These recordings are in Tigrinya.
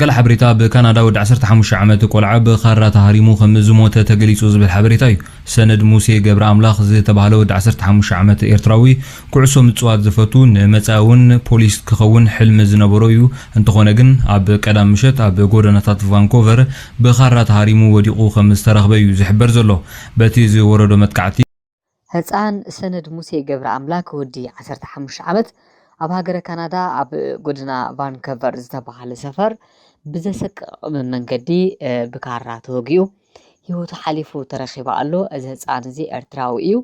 ገለ ሓበሬታ ብካናዳ ወዲ ዓሰርተ ሓሙሽተ ዓመት ቆልዓ ብኻራ ተሃሪሙ ከም ዝሞተ ተገሊጹ ዝብል ሓበሬታ እዩ። ሰነድ ሙሴ ገብረኣምላኽ ዝተባህለ ወዲ ዓሰርተ ሓሙሽተ ዓመት ኤርትራዊ ኩዕሶ ምጽዋት ዝፈቱ ንመጻኢ'ውን ፖሊስ ክኸውን ሕልሚ ዝነበሮ እዩ እንተኾነ ግን ኣብ ቀዳም ምሸት ኣብ ጎደናታት ቫንኮቨር ብኻራ ተሃሪሙ ወዲቑ ከም ዝተረኽበ እዩ ዝሕበር ዘሎ በቲ ዝወረዶ መጥቃዕቲ ህጻን ሰነድ ሙሴ ገብረኣምላክ ወዲ ዓሰርተ ሓሙሽተ ዓመት ኣብ ሃገረ ካናዳ ኣብ ጎደና ቫንከቨር ዝተባህለ ሰፈር ብዘሰቅቕም መንገዲ ብካራ ተወጊኡ ህይወቱ ሓሊፉ ተረኺባ ኣሎ። እዚ ህጻን እዚ ኤርትራዊ እዩ።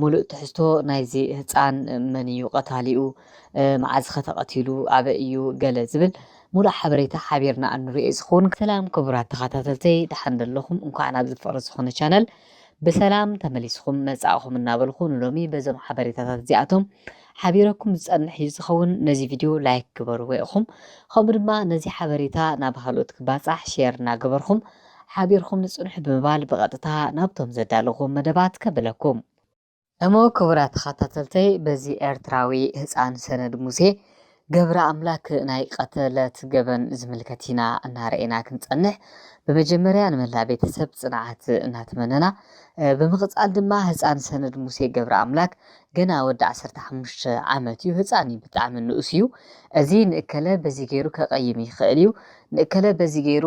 ሙሉእ ትሕዝቶ ናይዚ ህጻን መን እዩ ቀታሊኡ፣ መዓዝ ኸ ተቐቲሉ፣ ኣበይ እዩ ገለ ዝብል ሙሉእ ሓበሬታ ሓቢርና እንሪኦ እዩ ዝኸውን። ሰላም ክቡራት ተኻታተልተይ ደሓን ዶ ኣለኹም እንኳዕ ናብዚ ፍቕሪ ዝኾነ ቻነል ብሰላም ተመሊስኹም መጻእኹም እናበልኩ ንሎሚ በዞም ሓበሬታታት እዚኣቶም ሓቢረኩም ዝጸንሕ እዩ ዝኸውን። ነዚ ቪድዮ ላይክ ግበርዎ ኢኹም። ከምኡ ድማ ነዚ ሓበሬታ ናብ ኻልኦት ክባጻሕ ሼር እናገበርኹም ሓቢርኹም ንጽንሑ ብምባል ብቐጥታ ናብቶም ዘዳለኹዎም መደባት ከብለኩም። እሞ ክቡራት ተኸታተልተይ በዚ ኤርትራዊ ህጻን ሰነድ ሙሴ ገብረኣምላክ ናይ ቀተለት ገበን ዝምልከት ኢና እናረኤና ክንጸንሕ ብመጀመርያ ንመላእ ቤተሰብ ጽንዓት እናተመነና ብምቕጻል ድማ ህጻን ሰነድ ሙሴ ገብረኣምላክ ገና ወዲ ዓሰርተ ሓሙሽተ ዓመት እዩ ህጻን እዩ ብጣዕሚ ንኡስ እዩ እዚ ንእከለ በዚ ገይሩ ከቐይም ይኽእል እዩ ንእከለ በዚ ገይሩ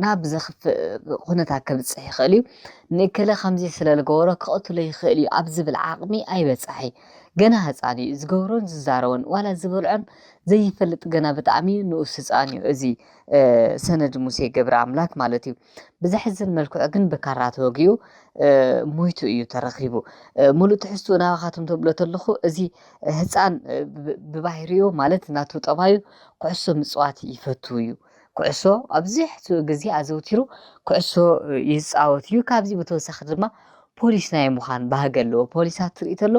ናብ ዘኽፍእ ኩነታት ከብጽሕ ይኽእል እዩ፣ ንእከለ ከምዚ ስለ ዝገበሮ ክቐትሎ ይኽእል እዩ ኣብ ዝብል ዓቕሚ ኣይበጽሐይ። ገና ህጻን እዩ፣ ዝገብሮን ዝዛረቦን ዋላ ዝበልዖን ዘይፈልጥ ገና ብጣዕሚ ንኡስ ህጻን እዩ እዚ ሰነድ ሙሴ ገብረኣምላክ ማለት እዩ። ብዘሕዝን መልክዑ ግን ብካራ ተወጊኡ ሞይቱ እዩ ተረኺቡ። ሙሉእ ትሕዝትኡ ናባኻትኩም ተብሎ ተለኹ እዚ ህፃን ብባህሪኡ ማለት ናቱ ጠባዩ ኩዕሶ ምፅዋት ይፈቱ እዩ። ኩዕሶ ኣብዝሕትኡ ግዜ ኣዘውቲሩ ኩዕሶ ይፃወት እዩ። ካብዚ ብተወሳኺ ድማ ፖሊስ ናይ ምዃን ባህጊ ኣለዎ። ፖሊሳት ትርኢ ተሎ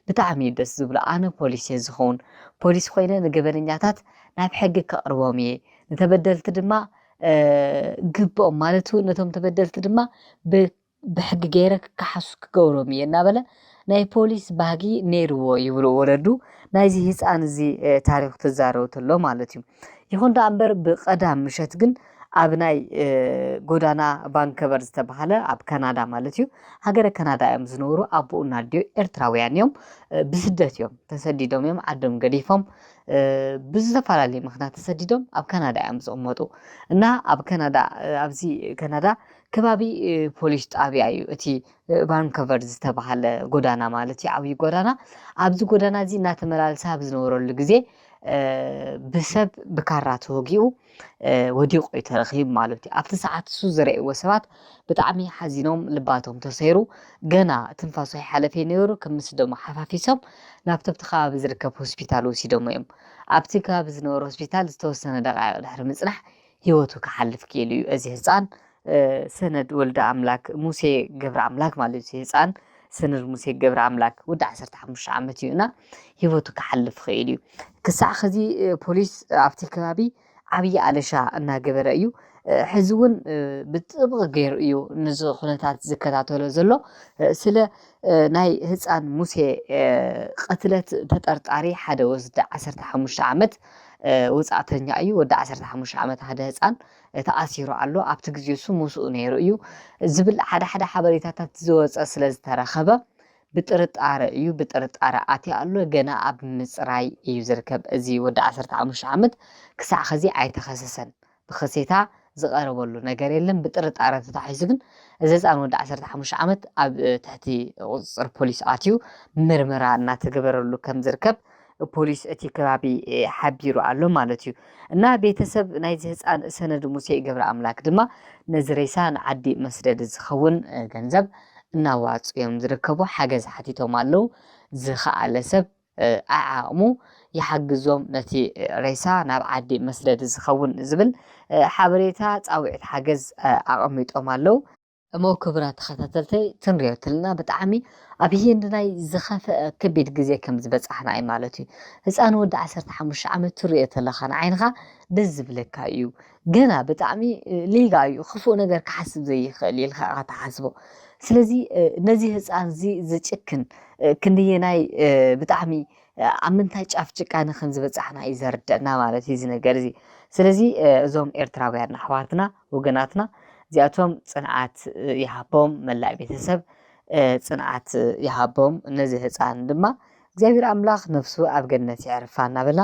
ብጣዕሚ እዩ ደስ ዝብሎ። ኣነ ፖሊስ እየ ዝኸውን ፖሊስ ኮይነ ንገበነኛታት ናብ ሕጊ ከቕርቦም እየ ንተበደልቲ ድማ ግብኦም ማለት እውን ነቶም ተበደልቲ ድማ ብሕጊ ገይረ ክከሓሱ ክገብሮም እየ እናበለ ናይ ፖሊስ ባህጊ ነይርዎ ይብሉ ወለዱ ናይዚ ህፃን እዚ ታሪክ ትዛረቡ ተሎ ማለት እዩ ይኹን ደኣ እምበር ብቀዳም ምሸት ግን ኣብ ናይ ጎዳና ቫንከቨር ዝተባሃለ ኣብ ካናዳ ማለት እዩ ሃገረ ካናዳ እዮም ዝነብሩ ኣቦኡን ኣዲኡ ኤርትራውያን እዮም ብስደት እዮም ተሰዲዶም እዮም ዓዶም ገዲፎም ብዝተፈላለየ ምክንያት ተሰዲዶም ኣብ ካናዳ እዮም ዝቕመጡ እና ኣብ ካናዳ ኣብዚ ካናዳ ከባቢ ፖሊስ ጣብያ እዩ እቲ ቫንኮቨር ዝተባሃለ ጎዳና ማለት እዩ ዓብዪ ጎዳና ኣብዚ ጎዳና እዚ እናተመላለሰ ኣብ ዝነበረሉ ግዜ ብሰብ ብካራ ተወጊኡ ወዲቑ እዩ ተረኺቡ ማለት እዩ ኣብቲ ሰዓት እሱ ዝረእዎ ሰባት ብጣዕሚ ሓዚኖም ልባቶም ተሰይሩ ገና ትንፋሱ ኣይሓለፈ ነይሩ ከም ምስ ደሞ ሓፋፊሶም ናብቲ ኣብቲ ከባቢ ዝርከብ ሆስፒታል ወሲዶሞ እዮም ኣብቲ ከባቢ ዝነበረ ሆስፒታል ዝተወሰነ ደቃይቕ ድሕሪ ምፅናሕ ሂወቱ ክሓልፍ ክኢሉ እዩ እዚ ህፃን ሰነድ ወልደ ኣምላክ ሙሴ ገብረ ኣምላክ ማለት እዩ ህፃን ሰነድ ሙሴ ገብረ ኣምላክ ወዲ ዓሰርተ ሓሙሽተ ዓመት እዩ እና ሂወቱ ክሓልፍ ይኽእል እዩ። ክሳዕ ኸዚ ፖሊስ ኣብቲ ከባቢ ዓብዪ ኣለሻ እናገበረ እዩ። ሕዚ እውን ብጥብቒ ገይሩ እዩ ነዚ ኩነታት ዝከታተሎ ዘሎ። ስለ ናይ ህፃን ሙሴ ቐትለት ተጠርጣሪ ሓደ ወስዲ 15 ዓመት ውፃእተኛ እዩ። ወዲ 15 ዓመት ሓደ ህፃን ተኣሲሩ ኣሎ። ኣብቲ ግዜ እሱ ምስኡ ነይሩ እዩ ዝብል ሓደ ሓደ ሓበሬታታት ዝወፀ ስለ ዝተረኸበ ብጥርጣረ እዩ ብጥርጣረ ኣትዩ ኣሎ ገና ኣብ ምጽራይ እዩ ዝርከብ እዚ ወዲ ዓሰርተ ሓሙሽተ ዓመት ክሳዕ ኸዚ ኣይተኸሰሰን ብኸሴታ ዝቐረበሉ ነገር የለን ብጥርጣረ ተታሒዙ ግን እዚ ህፃን ወዲ ዓሰርተ ሓሙሽተ ዓመት ኣብ ትሕቲ ቁፅፅር ፖሊስ ኣትዩ ምርመራ እናተገበረሉ ከም ዝርከብ ፖሊስ እቲ ከባቢ ሓቢሩ ኣሎ ማለት እዩ እና ቤተሰብ ናይዚ ህፃን ሰነድ ሙሴ ገብረ ኣምላክ ድማ ነዚ ሬሳ ንዓዲ መስደዲ ዝኸውን ገንዘብ እናዋፁ እዮም ዝርከቡ ሓገዝ ሓቲቶም ኣለው ዝኸኣለ ሰብ ኣዓቕሙ ይሓግዞም ነቲ ሬሳ ናብ ዓዲ መስደዲ ዝኸውን ዝብል ሓበሬታ ፃውዒት ሓገዝ ኣቐሚጦም ኣለው እሞ ክብራት ተኸታተልተይ ትንርዮ ትልና ብጣዕሚ ኣብ ህይንድናይ ዝኸፈአ ከቢድ ግዜ ከም ዝበጻሕና እዩ ማለት እዩ ህጻን ወዲ ዓሰርተ ሓሙሽተ ዓመት ትርዮ ተለኻ ንዓይንኻ ደስ ዝብለካ እዩ ገና ብጣዕሚ ሊጋ እዩ ክፉእ ነገር ክሓስብ ዘይኽእል እዩ ኢልካ ኢኻ ትሓስቦ ስለዚ ነዚ ህፃን እዚ ዝጭክን ክንደየናይ ብጣዕሚ ኣብ ምንታይ ጫፍ ጭቃነ ከም ዝበፃሕና እዩ ዘርደአና ማለት እዩ እዚ ነገር እዚ ስለዚ እዞም ኤርትራውያን ኣሕዋትና ወገናትና እዚኣቶም ጽንዓት ይሃቦም መላእ ቤተሰብ ጽንዓት ይሃቦም ነዚ ህፃን ድማ እግዚኣብሔር ኣምላኽ ነፍሱ ኣብ ገነት የዕርፋ እናበልና